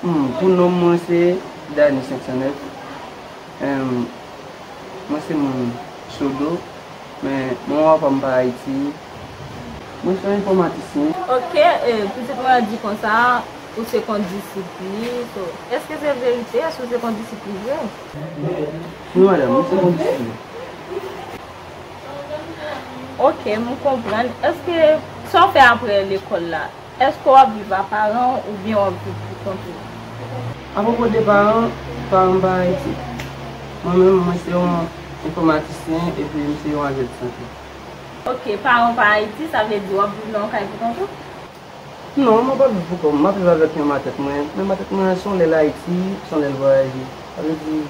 Pou nom mwen se Dany 509 Humm mwen se moun Sodo men manman papam pa Ayiti Mwen son enfòmatisyen. Ok pitit mwen an di konsa ou se kondisip li to eske se verite eske ou se kondisip li vre? Wi madam mwen se kondisip li. Ok m konprann eske sa w fè aprè lekòl la Èske w ap viv a paran w oubyen w ap viv pou kont ou? Apwopo de paran, paran m pa Ayiti. Mwen menm, mwen se yon enfòmatisyen epi m se yon ajant sante. Ok, paran w pa Ayiti, sa vle di w ap viv nan yon kay pou kont ou? Non, mwen pa viv pou kont mwen, m ap viv avèk yon matant mwen. Men matant mwen an se yon lè l Ayiti, se yon lè l vwayaje. Sa vle di,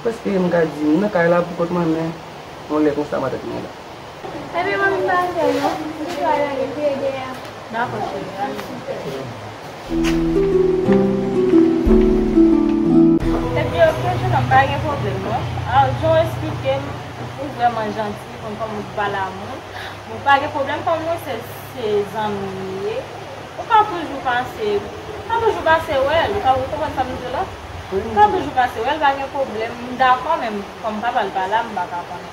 prèske m ka di m nan kay la pou kont mwen men yon lè konsa matant mwen la. Ebyen manmi m pa fèl non m pito al ale priye dèyè a. Dakò cheri ale tou frèm. Epi ok jenòm pa gen pwoblèm non Aww jan w esplike m ou vrèman janti ou konn kòman pou pale a moun bon pa gen pwoblèm kòm mwen se zanmi m li ye ou ka toujou pase ou ka toujou pase wè l ou konprann sa m di w la ou ka toujou pase wè l pa gen pwoblèm m dakò men kòm papa l pa la m pa ka konnen.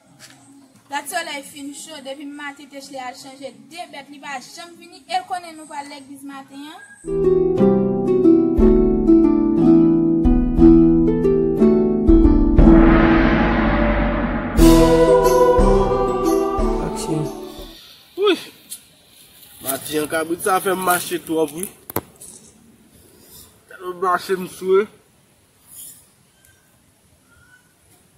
Gad solèy fin cho depi maten Techle al chanje 2 bèt li pa janm vini el konnen nou pral legliz maten an. Aksyon Maten an kabrit sa fèm mache twòp wi Telman mache m swe.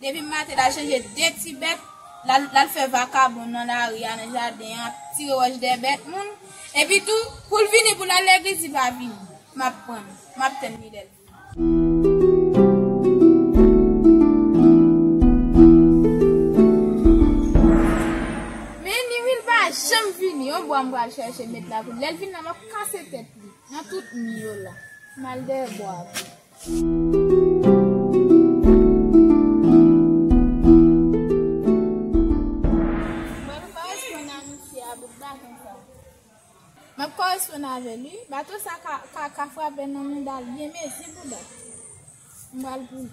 Depi maten lal chanje de ti bèt lal fè vakabon nan lari a nan jaden an ap tire wòch dèyè bèt moun epi tou poul vini poul al legliz li pa vini map tann map tann li lèl vini li pa janm vini yon bwa m pral chèche met la pou li lèl vini la map kase tèt li nan tout mi yo la mal dèyè bwa a. Mwen koresponn a misye a bout baton sa. Map koresponn avèl wi. Baton sa ka frape nan moudal byen mezi bouda. M pral pou li.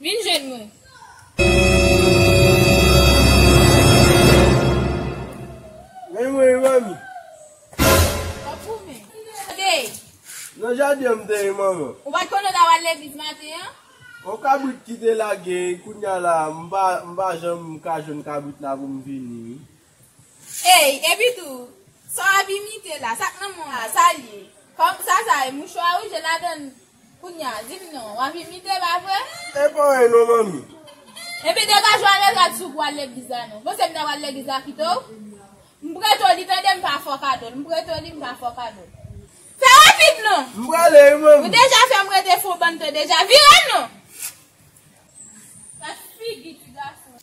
Vin jwenn nou! Mwen mwen e manmi. Wap goumen. Kote w te ye? Nan jaden an m te ye manman. Ou pat konnen w ta pral legliz maten an? Yon kabrit ki te lage, kounya la m pa janm ka jwenn kabrit la pou m vini wi. Ey, epi tou, sa w ap imite la, sa k nan men w la, sa l ye? Kòm sa sa ye? Mouchwa wouj e ladann Kounye a, di m non, w ap imite, pa vre? E pa anyen non, manmi. Epi degaj w ale rad sou pou w al legliz la non. Panse m ta pral legliz la kite w? M prete w li, tande, m pa fè w kado l. M prete w li, m pa fè w kado l. Fè rapid non! M prale wi, manmi. Ou deja fè m rete fon bann tan deja. Vire non! Gad figi ti gason an.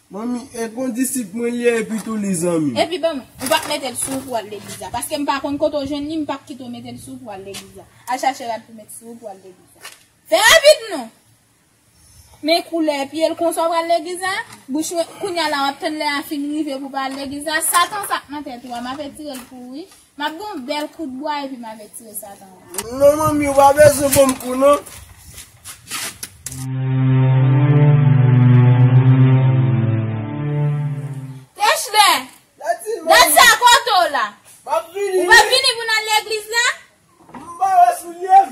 Manmi e kondisip mwen liye epi tou li zanmi. Epi banm, ou pap metel sou ou pou al legliz la, paskem pa konn kote ou jwenn li mpap kite ou metel sou ou pou al legliz la, al chache rad pou met sou ou pou al legliz la, fè rapid non! Men koulè pyel konsa ou pral legliz la, bouch mwen, kounya la wap tann lè a fin rive pou pa al legliz la, satan sa k nan tèt ou a map etirel pou ou wi. M ap gen yon bèl kout bwa epi m al retire Satan an. Non manmi, ou pa bezwen ban m kou non. Kechbe! Dat sa kote w la? M ap vini. Ou p ap vini pou n al legliz la? M pa wè soulye m.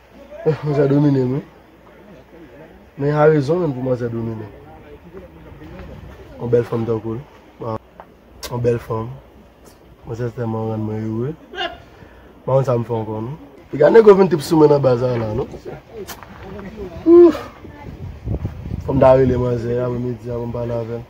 Manzè domine m wi. Men a rezon menm pou manzè domine m. Yon bèl fanm tankou l. Yon bèl fanm. Manzè sa tèlman rann mwen ere. M pa konn sa m fè ankò non. E gade nego vin trip sou mwen nan baz la la non. Ooh! Fò m ta rele manzè a pou m di a pou m pale avè l.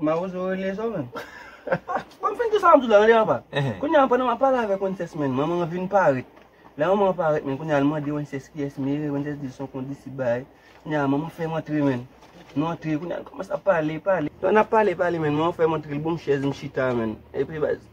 Mawozo rele zo menm. Bon m fin di sa map di w la rele apa. Kounya pandan map pale avèk wences menn manman an vin parèt. Lè manman an parèt menn kounya al mande wences kiyès mere wences di l son kondisip bay. Kounya manman fè m antre menn. Nou antre kounya nou kòmanse ap pale pale. Pandan nap pale pale menn manman fè m antre l bonm chèz m chita menn. Epi baz.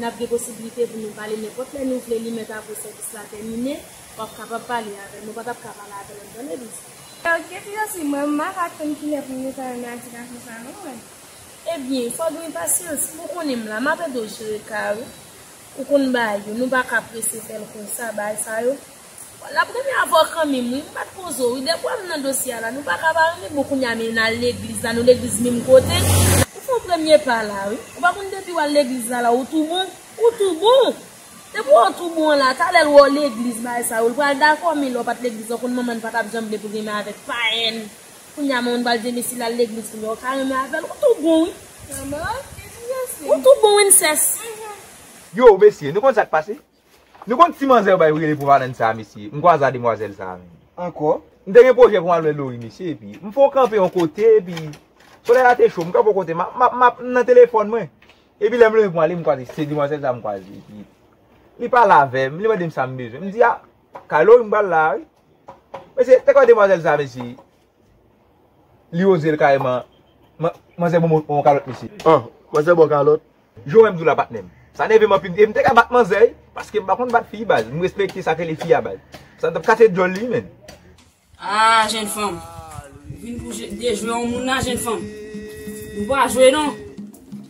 Nap gen posibilite pou nou pale nenpòt lè nou vle li mèt apre sèvis la tèmine wap kapab pale avèl mwen patap ka pale avèl an tande li di. Ew kite yo si mwen m paka konn kilè pou m reta nan agitasyon sa non mwen. Ebyen fòw gen pasyans pou konnen m la map ede w jere kay ou ou konn bay yo nou paka prese fèl konsa bay sa yo. Lap renmen avèw kanminm wi m pat poze w ide pwem nan dosye a la nou paka pa renmen bon kounya men nal legliz la nou legliz minm kote. Ou fè yon premye pa la wi. Ou pa konn depiw al legliz la la ou tou bon? Ou tou bon! Depi wè w tou bon la, talè l wè w legliz bagay sa yo l pral dakò men lè w pat legliz la w konn manman n pa tap janm vle pou renmen avèk payen kounya manman n pral di men si lal legliz kounya w ka renmen avèl ou tou bon wi. Ou tou bon wi m ses. Yow mesye nou konn sak pase. Nou konn ti manzè yo bay rele pou Vanann sa mesye, m kwaza demwazèl sa menm. Ankò? M te gen pwojè pou m al wè Lori mesye epi m fon kanpe yon kote epi solèy la te cho m kanpe yon kote map map map m nan telefòn mwen epi lè m leve pou m ale m kwaze se demwazèl sa m kwaze epi li pale avè m li mande m sa m bezwen m di a kay Lori m pral la a wi mesye te kwè demwazèl sa mesye Li ozel kareman. Manzè bon on kalot mesye. An manzè bon kalot. Jan w wè m di w la patnè m. Sa nève m anpil. E m te ka bat manzè wi. Paske m pa konn bat fi baz. M respekte sa k rele fi a baz. Sa m tap kase dyòl li menn. Aah jenn fanm. Ou vin pou dejwe on moun la jenn fanm. Nou pa jwe non.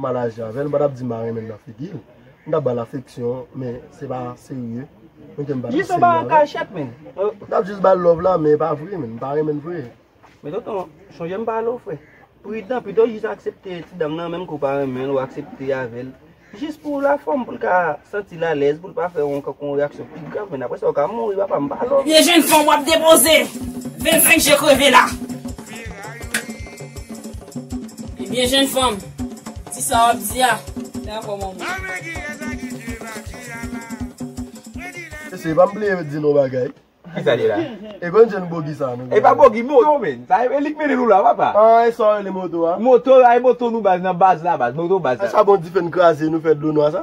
Mal aji avèl, m pa tap di ma renmen l nan figil, m tap bal afeksyon men se pa serye, men kem pa tap serye avèl, m tap jis bal love la men pa vre menn, m pa renmen l vre. Men tonton, chonje m pale w frè, pridan pito jis aksepte ti dam nan menm ke w pa renmen l ou aksepte avèl, jis pou la fòm pou l ka santi l alèz pou l pa fè yon kankon reyaksyon pi grav menn apresa ou ka mouri papa m pa love. Ebyen jèn fanm wap depoze 25 je kreve la. Ebyen jenn fanm, di sa wap di a, fè akò manmanw. Kisa li la? E konn jen bogi sa nou. E pa bogi moto menn. Sa e lik mennen nou la papa. An e sa ou rele moto a? Moto a e moto nou baz nan baz la baz moto baz la. E sa bon dife n kraze nou fè dlo nwa sa?